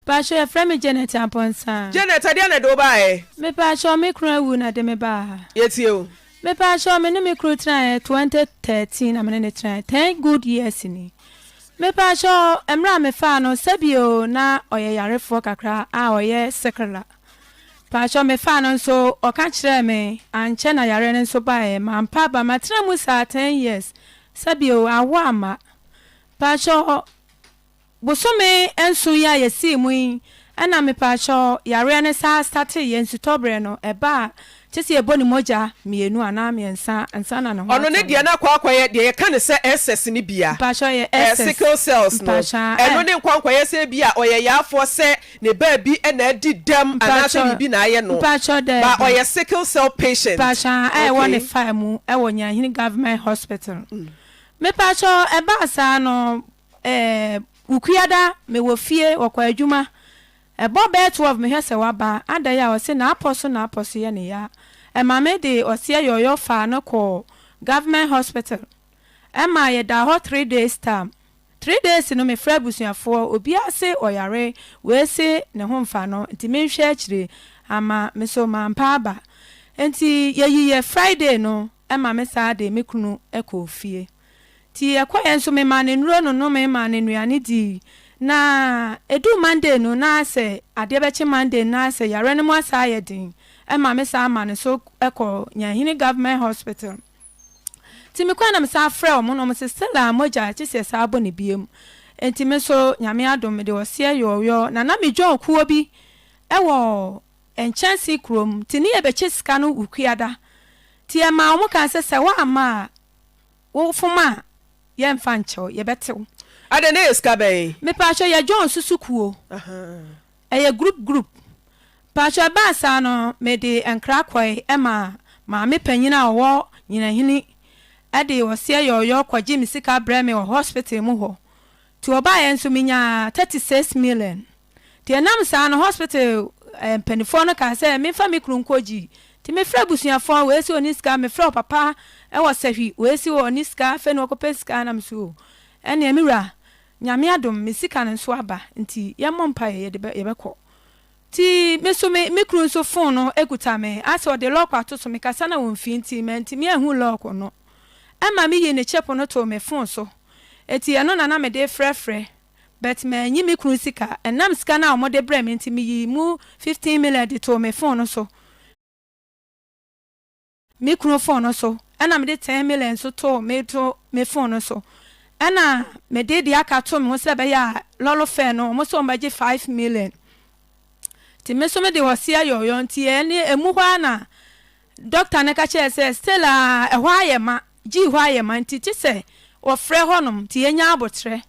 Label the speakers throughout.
Speaker 1: Paatwɔ yɛfrɛ me Janet Amponsah. Janet, ɛdeɛn na ɛde wo baa
Speaker 2: ha? Me paatwɔ me kunu
Speaker 1: awu na ɛde me baa ha. Yɛtie wo. Me
Speaker 2: paatwɔ me
Speaker 1: ne me kunu tenaeɛ twenty thirteen na me ne no tenaeɛ ten good years ni. Me paatwɔ mmerɛ a me faa no sɛbio na ɔyɛ yarefoɔ kakra a ɔyɛ sikila. Paatwɔ me faa no nso ɔka kyerɛɛ me ankyɛ na yareɛ no nso baeɛ mampa aba matena mu saa ten years sɛbio awo amma. Paatwɔ. Bosome nson yi a yɛsii mu yi na mepaakyɛw yareɛ no saa startee yɛ nsutɔberɛ no ɛbaa kyɛ sɛ yɛbɔ ne mogya mmienu anaa mmiɛnsa ansa na ne ho Ɔno ne atɔ deɛ no. na akɔ akɔyɛ
Speaker 2: deɛ yɛka no sɛ SS no bia, Mpaakyɛw ɛyɛ ɛɛ SS
Speaker 1: sickle cells
Speaker 2: no, mpaakyɛw a ɛno ɛɛ. ne nkwankwaeɛ sɛ ebia ɔyɛ yaafoɔ sɛ ne baabi na adi dɛm anaa sɛ Mpaakyɛw biribi na ayɛ no, mpaakyɛw but daabi. ɔyɛ
Speaker 1: sickle cell
Speaker 2: patient. Mpaakyɛw a ɛwɔ ne
Speaker 1: Okay. faa mu ɛwɔ Nyahene Government Hospital. Mepaakyɛw ɛbaa saa no Ɛɛ, Wukuada, mewɔ fie, wɔkɔ adwuma. Ɛbɔ bɛyɛ twelve mehwɛ sɛ waba. Adɛn a? Ɔse n'apɔ so n'apɔ so yɛ no ya. Ɛma me de ɔseɛ yɔyɔ faa no kɔɔ government hospital. Ɛma yɛdaa hɔ three days tam. Three days no mefrɛɛ abusuafoɔ, obiara se ɔyare, wei se ne ho mfa no nti menhwɛ akyire. Amma me nso mampa aba. Enti yɛyiiɛ Friday no ɛma me saa de me kunu kɔɔ fie. Nti yɛkɔeɛ nso memaa no nnuro no nomee maa no nnuane dii. Na ɛduu Monday no na sɛ adeɛ bɛkye Monday no na sɛ yareɛ no mu asan ayɛ den ma me san ma no so kɔ Nyahene Government Hospital. Nti mekɔeɛ na mesan frɛɛ wɔn na wɔn se still a mogya gye sɛ ɛsan bɔ no biom. Nti me nso Nyame adom mede ɔseɛ yɔɔyɔɔ na na me John kuo bi wɔ Nkyɛnse kurom nti ne yɛbɛkyɛ sika no Wukuada. Nti yɛmaa wɔn kan sɛ sɛ woamma a Wo fom a yɛ nfa nkyɛ wo yɛ bɛ te wo. Adɛn na ɛyɛ sika
Speaker 2: bɛn? Mepaatwɔ yɛ John
Speaker 1: so sukuo ɛyɛ group group paatwɔ ɛbaa saa no mede nkra kɔe ɛma maame panyin a ɔwɔ nyinahene ɛde ɔseɛ yɔɔyɔɔ kɔgye me sika brɛ me wɔ hospital mu hɔ ti ɔbaeɛ nso menyaa thirty six million. Nti ɛnam saa no hospital ɛɛ mpaninfoɔ no kaa sɛ menfa me kunu nkɔ gyi. Nti mefrɛ abusuafoɔ wei se ɔni sika mefrɛ ɔpapa ɛwɔ sahwi wei se ɔni sika afei na ɔkɔ pɛ sika nam so ɛneɛ me wura nyame adom me sika no nso aba nti yɛ mmɔ mpaeɛ yɛde bɛ yɛbɛ kɔ. Nti me so me me kunu nso fon no ekuta me asɛ ɔde lɔk ato so mekasa na wɔn fii nti mantumi anhu lɔk no ɛma me yii ne chip no too me fon so ɛti ɛno na na mede frɛ frɛ. but mannyi me kunu sika. Ɛnam sika no a wɔde brɛɛ me nti, meyii mu fifteen million de too me phone no so, me kunu phone no so, ɛna mede ten million nso too me to me phone no so, ɛna mede deɛ aka too me ho sɛ ɛbɛyɛ a lɔre fare no wɔn sɛ wɔbɛgye five million. Nti me nso mede ɔseɛ yɔɔyɔ nti ɛne ɛmu hɔ ara na Dɔkta no ka kyerɛɛ sɛ, Still a, ɛhɔ ayɛ ma. Gyii hɔ ayɛ ma nti, gye sɛ wɔfrɛ hɔnom nti yɛnya aboterɛ.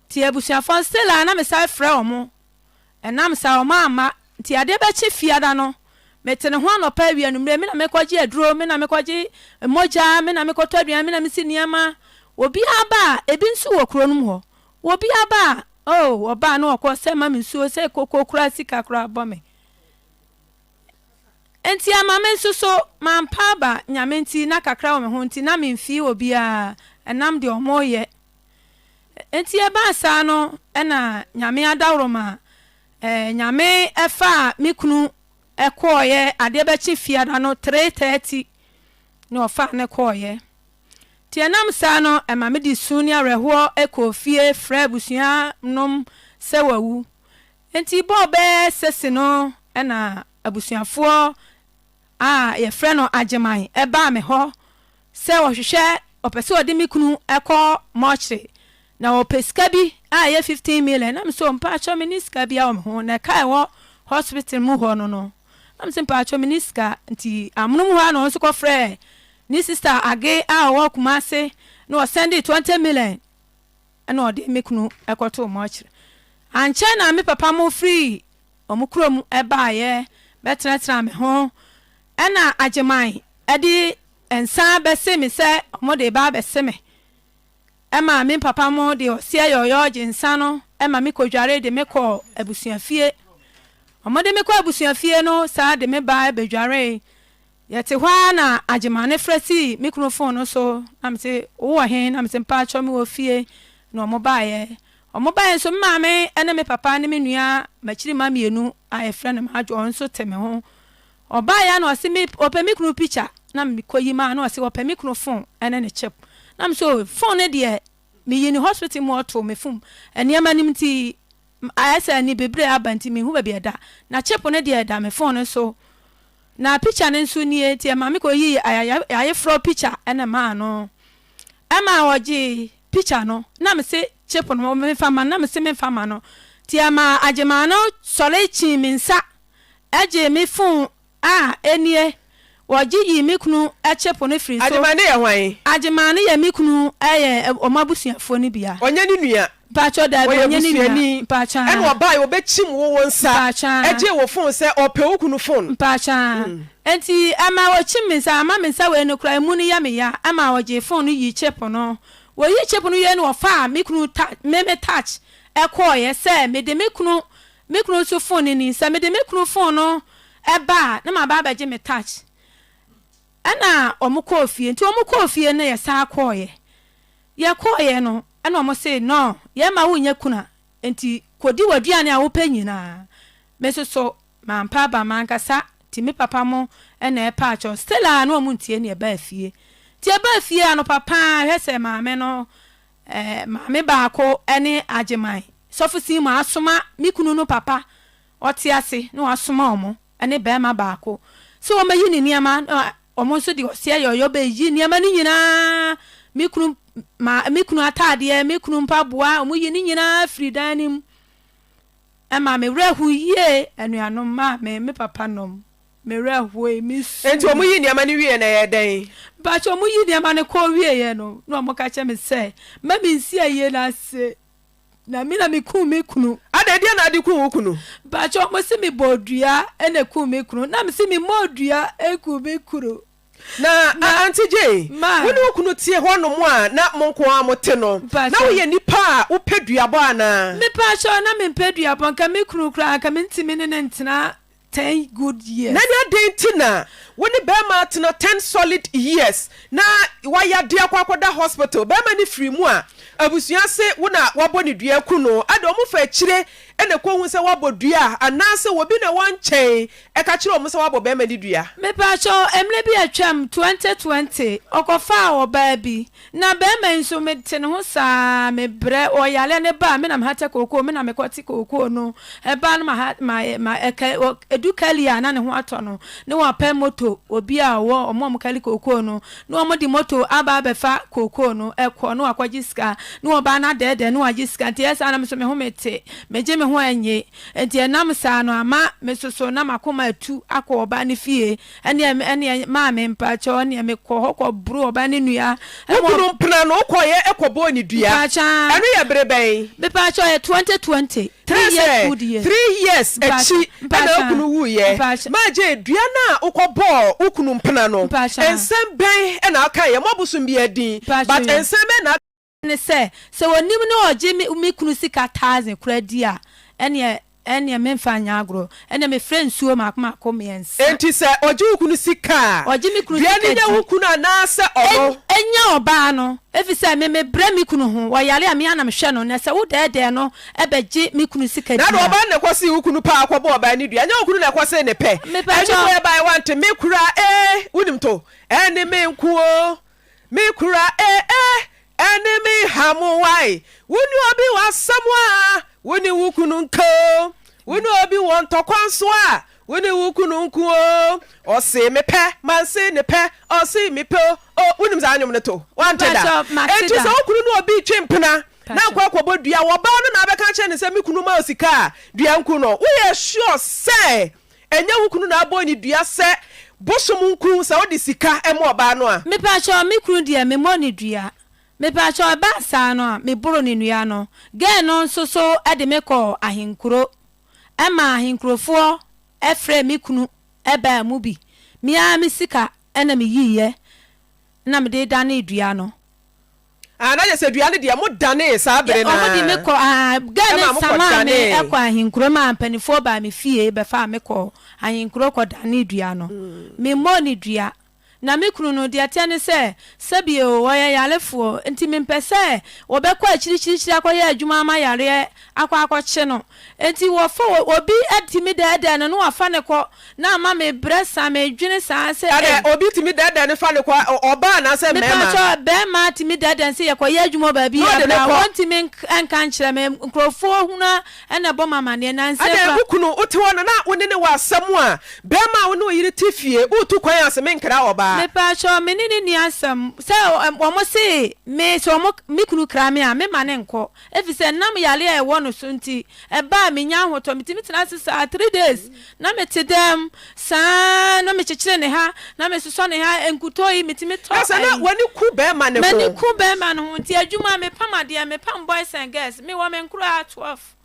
Speaker 1: Nti abusuafoɔ no, still a na mesane frɛ wɔn. Ɛnam saa wɔn amma. Nti adeɛ bɛkye Fiada no, mete ne ho anɔpa, awia, anwummerɛ, me na mekɔgye aduro, me na mekɔgye mogya, me na mekɔtɔ aduane, me na mesi nneɛma. Obiara ba a, ebi nso wɔ kuro no mu hɔ. Obiara ba a, oh, wɔba a na wɔkɔ, sɛ ma me nsuo, sɛ koko koraa, sika koraa bɔ me. Enti ama me nso so, mampa aba Nyame nti na kakra wɔ me ho nti na memfii obiara ɛnam deɛ wɔreyɛ. Enti ɛbaa saa no ɛna Nyame adaworo ma eh, Nyame ɛfaa me kunu ɛkɔɔyɛ adeɛ bɛkye fiada no 3:30 na ɔfaa ne kɔɔyɛ. Nti ɛnam saa no ɛma me de su ne awerɛhoɔ ɛkɔɔ fie frɛ abusua nom sɛ wawu. Enti bɔɔ bɛyɛ sese no na abusuafoɔ a yɛfrɛ no Agyeman baa me hɔ sɛ wɔhwehwɛ wɔpɛ sɛ wɔde me kunu kɔ mɔɔkyere na wɔpɛ sika bi a ɛyɛ fifteen million na me sɛ mpakyɛw me nni sika biara wɔ me ho na ɛka ɛwɔ hospital mu hɔ no no na me sɛ mpakyɛw me nni sika nti amonom hɔ a na wɔn nso kɔfrɛɛ ne sister Age a ɔwɔ Kumase na wɔsɛnde twenty million Ɛnna ɔde me kunu kɔtoo mortuary. Ankyɛ na me papa mo firii wɔn kurom baeɛ bɛtenatenaa me ho. Ɛnna Agyeman de nsa bɛsee me sɛ wɔde reba abɛse me. Ɛma me papa mo de ɔseɛ yɔɔyɔɔ gye nsa no ma me kɔdwaree de me kɔɔ abusuafie. Wɔde me kɔ abusuafie no saa de me ba bɛdwaree. Yɛte hɔ ara na Agyemane frɛ sii me kunu fon no so na mese wo wɔ he? Na mese mpaakyɛw me wɔ fie na ɔmo baeɛ. Ɔmo baeɛ nso me maame ne me papa ne me nua makyiri ma mmienu a yɛfrɛ no Madwo ɔno nso te me ho. Ɔbaeɛ a na ɔse me ɔpɛ me kunu pikya na me kɔ yi maa na ɔse ɔpɛ me kunu fon ne ne chip. Na mese oh fon no deɛ meyi ne hospital mu ɔtoo me fom nneɛma nim nti M ayɛ sɛ ani bebree aba nti menhu baabi a ɛda. Na chip no deɛ ɛda me phone no so. Na picture no nso nie nti ɛmaa me kɔ yii ayayefrɔ picture ɛna maa no. Ɛma ɔgyee picture no na me se chip no menfa mma no na me se menfa mma no. Nti ɛmaa Agyemaa no sɔre kyii me nsa gyee me phone A, enie, wɔgye yii me kunu kyepo no firi so. Agyeman no yɛ hwan?
Speaker 2: Agyeman no yɛ me
Speaker 1: kunu ɛyɛ wɔn abusuafoɔ no bia. Ɔnyɛ ne nua?
Speaker 2: Mpakyɛw, daabi, ɔnyɛ
Speaker 1: ne nua. Ɔyɛ busuani. Mpakyɛw. Ɛna ɔbae wɔbɛkyim
Speaker 2: wo wo nsa. Mpakyɛw. Ɛgyee wo phone sɛ ɔpɛ wo kunu phone. Mpakyɛw. Mm.
Speaker 1: Nti ɛma wɔkyim me nsa, ama me nsa wei no koraa emu no yɛ me ya, ɛma wɔgyee phone no yii chip no. Wɔyii chip no wieɛ no wɔfaa me kunu ta, me me touch ɛkɔɔeɛ sɛ mede me kunu Me kunu nso fon no ni. Sɛ mede me kunu fon no ba a, na maba abɛgye me touch. Ɛnna wɔkɔɔ fie. Nti wɔkɔɔ fie no, na yɛsan kɔeɛ. Yɛkɔeɛ no, ɛnna wɔse, No, yɛremma wonyɛ kunu a, enti kɔdi w'aduane a wopɛ nyinaa. Me nso so, mampɛ aba m'ankasa, nti me papa mo na ɛpaakyɛw. Still a, na wɔntie nea ɛbaa fie. Nti yɛbaa fie anɔpa pa ara, hwɛ sɛ maame no Maame baako ne Agyeman sɔfosin mu asoma me kunu no papa ɔte ase na wasoma wɔn ne barima baako sɛ wɔmmɛyi ne nneɛma na wɔn nso de ɔseɛ yɔyɔ bɛyi nneɛma no nyinaa me kunu ma me kunu ataadeɛ me kunu mpaboa wɔn yi ne nyinaa firi dan no mu ɛma me werɛ ho yie anuanom maame me papa nom Me werɛ hooe, me suui. Enti wɔn yii nneɛma no
Speaker 2: wieɛ no ɛyɛɛ dɛn? Mpakyɛw, wɔn yii nneɛma
Speaker 1: no kɔɔ wieɛ no, na wɔn ka kyerɛɛ me sɛ, mma me nsi ayie no ase, na me na me kum me kunu. Adɛn, deɛn na wode kum
Speaker 2: wo kunu? Mpakyɛw, wɔse
Speaker 1: me bɔɔ dua na ekum me kunu, na me se me mmɔɔ dua nkum me kunu. Na
Speaker 2: Auntie Jay, wo ne wo kunu te hɔ nom a na mo nko ara mo te no, na wo yɛ nipa a wo pɛ duabɔ anaa? Mpakyɛw, na me
Speaker 1: mpɛ duabɔ, nka me kunu koraa nka me ntumi ne no ntena ten good years. Nanya dɛn nti na
Speaker 2: wo ne bɛɛma atena ten solid years na wayade akɔ akɔda hospital bɛɛma no firi mu a abusua se wo na wabɔ no dua aku no ɛde ɔmo fa akyire na ɛkɔ hu sɛ wabɔ dua anaase wɔbi na ɛwɔ nkyɛn ɛka kyerɛ ɔmo sɛ wabɔ bɛɛma no dua. Mepaakyɛw mmerɛ
Speaker 1: bi atwam twenty twenty ɔkɔfaa ɔbaa bi Na bɛɛma yi nso me te ne ho saa me brɛ wɔ yaleɛ no ba a me na me hatɛ kookoo me na me kɔ te kookoo no ɛba no ma ha ma ma ɛkɛ wɔ ɛdu kɛli a na ne ho atɔ no ne wɔ pɛ moto wɔ bi a ɔwɔ ɔmo ɔmo kɛli kookoo no ne ɔmo de moto aba abɛ fa kookoo no ɛkɔ ne wɔ akɔ gye sika ne wɔ ba na dɛɛdɛɛ ne wɔ agye sika nti ɛyɛ saa na me nso me ho me te me gye me ho ɛnye nti ɛnam saa no ama me soso na ma koma atu akɔ ɔba ne fie Ɛneɛ me ɛneɛ maame mpakyɛw ɛneɛ me kɔ hɔ kɔ boro ɔbaa ne nua. Wo kunu mpena no
Speaker 2: wo kɔ yɛ kɔ bɔɔ ne dua? Mpakyɛw. Ɛno yɛ bere bɛn? Mepakyɛw ɛyɛ twenty
Speaker 1: twenty. Three years good years.
Speaker 2: Three years akyi ɛna wo kunu wuu yɛ. Maagye dua no a wo kɔ bɔɔ wo kunu mpena no nsɛm bɛn ɛna wo kae yɛ? Mo abosom biara din but nsɛm bɛn na. ne sɛ,
Speaker 1: sɛ wɔnim ne ɔgye me me kunu sika thousand koraa di a, ɛnneɛ ɛnneɛ memfa nyɛ agorɔ, ɛnneɛ mefrɛ nsuo mmaako mmaako mmiɛnsa. Enti sɛ ɔgye wo
Speaker 2: kunu sika a, Ɔgye me kunu dua no sika
Speaker 1: nyɛ di. wo kunu anaasɛ
Speaker 2: ɔno? Ɛn ɛnyɛ ɔbaa no,
Speaker 1: ɛfiri sɛ me mebrɛ me kunu ho, ɔyare a, me ara na mehwɛ no, na sɛ wodɛɛdɛɛ no bɛgye me kunu sika Na di deɛ a. ɔbaa no na ɛkɔsee wo kunu
Speaker 2: paa kɔbɔɔ ɔbaa no dua, ɛnyɛ wo kunu na ɛkɔsee ne pɛ. Mepatwɔ. Animoeɛ baeɛ wante me koraa ee, wonim to, ɛnne me nko oo. Me kura eh eh ɛne me hamo wai Wo ne obi wɔ asɛm a wo ne wo kunu nka o Wo ne obi wɔ ntɔkwa nso a wo ne wo kunu nko o Ɔse me pɛ manse ne pɛ ɔse me pɛ o o Wonim saa nwom no to wante da Mpakyɛw, mate da. Enti sɛ wo kunu ne obi twe mpena na Mpakyɛw. nkɔ akɔbɔ dua wɔ baa no na abɛka akyerɛ no sɛ me kunu ma wo sika a dua nku no Woyɛ sure sɛ Ɛnyɛ wo kunu na abɔ onidua sɛ bosom nkuru sɛ wode sika ma ɔbaa no a. Mepakyɛw me kunu
Speaker 1: deɛ me mmɔ no dua mepakyɛw ɛbaa saa no a me boro no nnua no girl no nso so de me kɔɔ ahenkuro ɛmaa ahenkurofoɔ frɛɛ me kunu ɛbaa mu bi me ara me sika ɛna me yiiɛ ɛna mede danee dua no Aah na
Speaker 2: yɛsɛ dua no deɛ mo danee saa bere no ara. Wɔde me kɔ aah
Speaker 1: girl no samaa me kɔ ahenkuro maa mpaninfoɔ baa me fie bɛfaa me kɔɔ ahenkuro kɔ danee dua no. Me mmɔɔ no dua. Na me kunu no deɛ ɛteɛ ne sɛ sɛbie o ɔyɛ yarefoɔ nti me mpɛ sɛ wɔbɛkɔ akyirikyirikyiri akɔyɛ adwuma ama yareɛ akɔ akɔkye no. Nti wɔfa obi tumi dɛɛdɛɛ no na wɔafa no kɔ Na ama me brɛ saa, medwene saa sɛ ei. Ɛnna obi tumi dɛɛdɛɛ
Speaker 2: no fa no kɔ ɔbaa anaasɛ mmarima. Mepa kyɛw, barima
Speaker 1: tumi dɛɛdɛɛ no sɛ yɛ kɔ yɛ adwuma wɔ baabi yɛ bra, wɔntumi nka nkyerɛ me, nkurɔfoɔ hunu a ɛnna ɛbɔ me amaneɛ, nansa kura. Ɛnna wo kunu, wote hɔ no
Speaker 2: na wo ne no wɔ asɛm a, barima a wo ne wo yere te fie, woretu kwan ase, menkra ɔbaa. Mepa kyɛw, me ne no
Speaker 1: nni asɛm, sɛ wɔn se me, sɛ wɔn, me kunu kra me a, mema no nkɔ. Efisɛ ɛnam yare a ɛwɔ no so nti, ɛba a minya ahotɔ. Mitumi tena ase saa three days, na mete dɛm saa ara na mekyekyere ne ha, na mesosɔ ne ha, nkutoo yi mitumi tɔ. Na sɛ na w'ani ku bɛrima
Speaker 2: no ho? M'ani ku bɛrima no ho nti,
Speaker 1: adwuma, mepam adeɛ, mepam boys and girls, mewɔ me nkoraa twelve.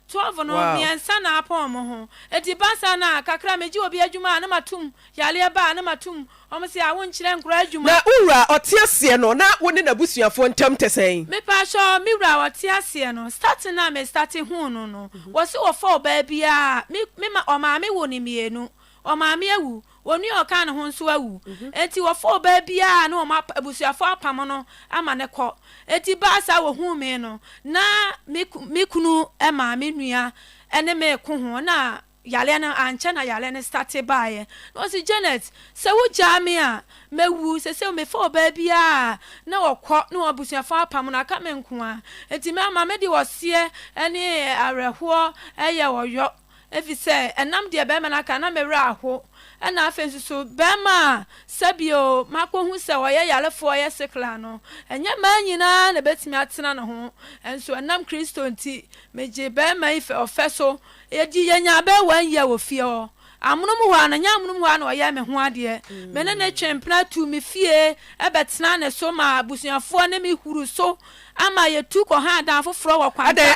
Speaker 1: Twelve no, miɛnsa na apon ɔmo ho. Edi baasa na kakra megye obi adwuma a na matum, yareɛ ba a na matum, ɔmo se a wonkyerɛ nkoraa adwuma. Na wo wura a ɔte
Speaker 2: aseɛ no na wo ne n'abusuafoɔ ntam te sɛn? Mepaatwɔ, me wura
Speaker 1: a ɔte aseɛ no, starting no a me starte huu no no, wɔse wɔfɔw baa biaa, me, me ma, ɔmaa me wo no mmienu, ɔmaa me awu, Onua a ɔkaa ne ho nso awu, enti wɔfaa ɔbaa bi a na wɔn abusuafo apam no ama no kɔ. Enti baa saa a wɔhuu me no, na me kunu maa me nua ne me reko ho na yareɛ no, ankyɛ na yareɛ no state baeɛ. Na ɔse, Janet, sɛ wogyaa me a, mɛwu. Seesei mefaa ɔbaa bi a na wɔkɔ na wɔn abusuafo apam no, aka me nko ara. Enti mama mede ɔseɛ ne awerɛhoɔ yɛ ɔyɔ. Efisɛ ɛnam deɛ barima no aka no na me werɛ ahow, ɛnna afei nso so barima a sɛbi oo makohu sɛ ɔyɛ yarefoɔ, ɔyɛ sikla no, ɛnyɛ mmaa nyinaa na ɛbɛtumi atena ne ho. Nso ɛnam Kristo nti, megyee barima yi fɛ ɔfɛ so. Enti yɛnyaa abaawa yie wɔ fie hɔ. Amonom hɔ ara no, ɛnyɛ amonom hɔ ara na ɔyɛɛ me ho adeɛ. Me ne no twee mpena tuu me fie bɛtenaa ne so maa abusuafoɔ ne me huruu so ama yɛtu kɔhaa dan foforɔ wɔ kwankyɛn.